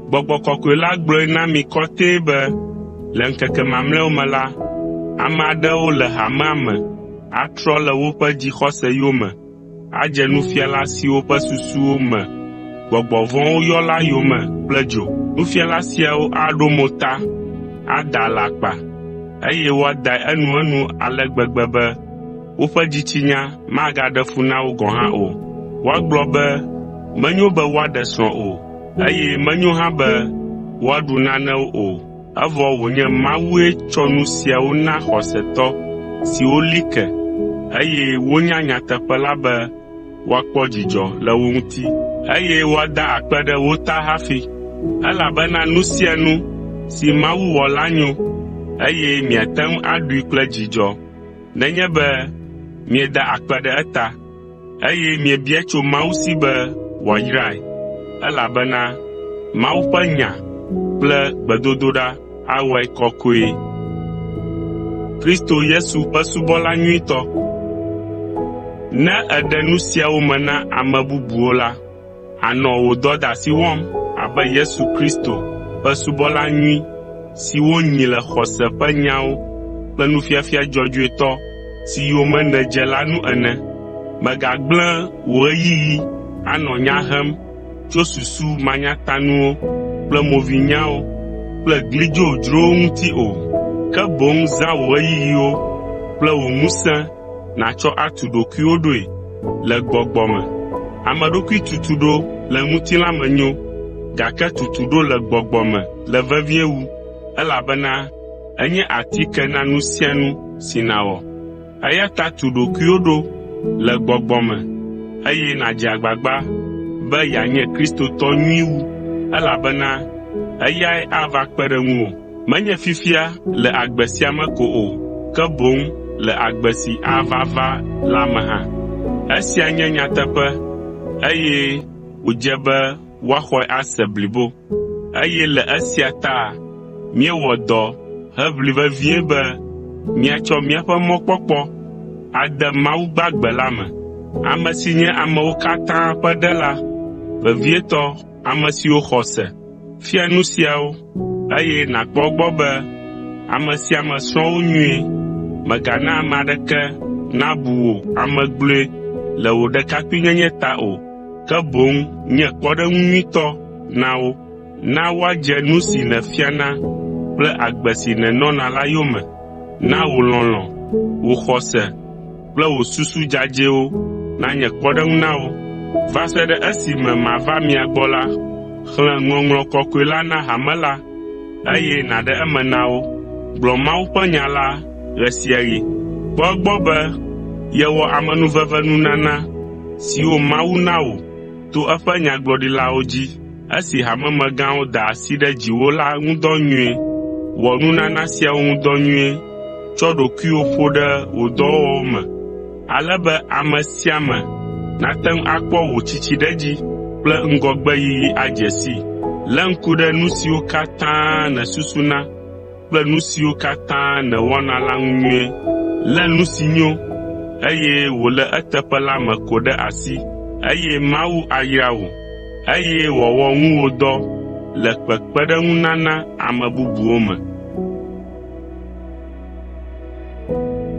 Gbɔgbɔ kɔkɔe la gblɔe na mi kɔtɛe be le ŋkeke mamlɛawo me la, ame aɖewo le hamea me atrɔ le woƒe dzixɔse yome adze nufiala siwo ƒe susuwo me gbɔgbɔ vɔ̃wo yɔ la yome kple dzo. Nufiala siawo aɖo mo ta, ada alakpa, eye woadae enuenu ale gbegbe be woƒe dzitsinya magaɖe fu na wo gɔ̃ hã o. Woagblɔ be menyo be woaɖe srɔ̃ o, eye menyo hã be woaɖu nanewo o. Evɔ wònye Mawue tsɔ nu siawo na xɔsetɔ siwo li ke, eye wonya nyateƒe la be woakpɔ dzidzɔ le wo ŋuti, eye woada akpe ɖe wo ta hafi. Elabena nu sia nu si Mawu wɔ la nyo, eye miate ŋu aɖui kple dzidzɔ nenye be mieda akpe ɖe eta. eye miebia tso Mawu si be wòayrae, elabena Mawu ƒe nya kple gbedodoɖa awɔe kɔkɔe. Kristo Yesu ƒe subɔla nyuitɔ Ne èɖe nu siawo me na ame bubuwo la, Ànɔ wò dɔdeasi wɔm abe Yesu Kristo ƒe subɔla nyui si wonyi le xɔse ƒe nyawo kple nufiafia dzɔdzɔetɔ si yome nèdze la nu ene. Mègagblẽ wò ɣeyiɣi anɔ nya hem tso susu manyatanuwo kple movinyawo kple gli dzodzrowo ŋuti o, ke boŋ zã wò ɣeyiɣiwo kple wò ŋusẽ nàtsɔ atu ɖokuiwò ɖoe le gbɔgbɔ me. Ame ɖokui tutu ɖo le ŋutilã me nyo, gake tutu ɖo le gbɔgbɔ me le vevie wu, elabena enye atike na nu sia nu si nàwɔ. Eya ta tu ɖokuiwò ɖo le gbɔgbɔ me, eye nàdze agbagba be yeanye Kristotɔ nyui wu, elabena eyae ava kpe ɖe ŋuwò. menye fifia le agbe sia me ko o, ke boŋ le agbe si ava va la me hã. Esia nye nyateƒe, eye wòdze be woaxɔe ase blibo. Eye le esia ta míewɔ dɔ heʋli vevie be míatsɔ míaƒe mɔkpɔkpɔ ade Mawu gbagbe la me, ame si nye amewo katã ƒe Ɖela vevietɔ Ame siwo xɔ se fia nu siawo, eye nàkpɔ egbɔ be ame sia ame srɔ̃ wo nyuie. Mègana ame aɖeke nabu wò ame gblɔe le wò ɖekakpuinyenye ta o, ke boŋ nye kpɔɖeŋu nyuitɔ na wo. Na woadze nu si nèfiana kple agbe si nènɔna la yome. Na wò lɔlɔ̃, wò xɔse, kple wò susu dzadzɛwo nanye kpɔɖeŋu na wò. Va se ɖe esime mava mia gbɔ la, xlẽ Ŋɔŋlɔ Kɔkɔe la na hame la, eye nàɖe eme na wo. Gblɔ Mawu ƒe nya la ɣe sia ɣi. Kpɔ egbɔ be yewɔ amenuvenunana siwo Mawu na wò. to eƒe nyagblɔɖilawo dzi esi hamemegãwo da asi ɖe dziwò la ŋu dɔ nyuie. Wɔ nunana siawo ŋu dɔ nyuie tsɔ ɖokuiwò ƒo ɖe wò dɔwɔwɔ me ale be ame sia ame nate ŋu akpɔ wò tsitsiɖedzi kple ŋgɔgbeyiyi adze sii. Lé ŋku ɖe nu siwo katã nèsusuna kple nu siwo katã nèwɔna la ŋu nyuie. Lé nu si nyo, eye wòle eteƒe la me ko ɖe asi, eye Mawu ayra wò, eye wòawɔ ŋuwòdɔ le kpekpeɖeŋunana ame bubuwo me.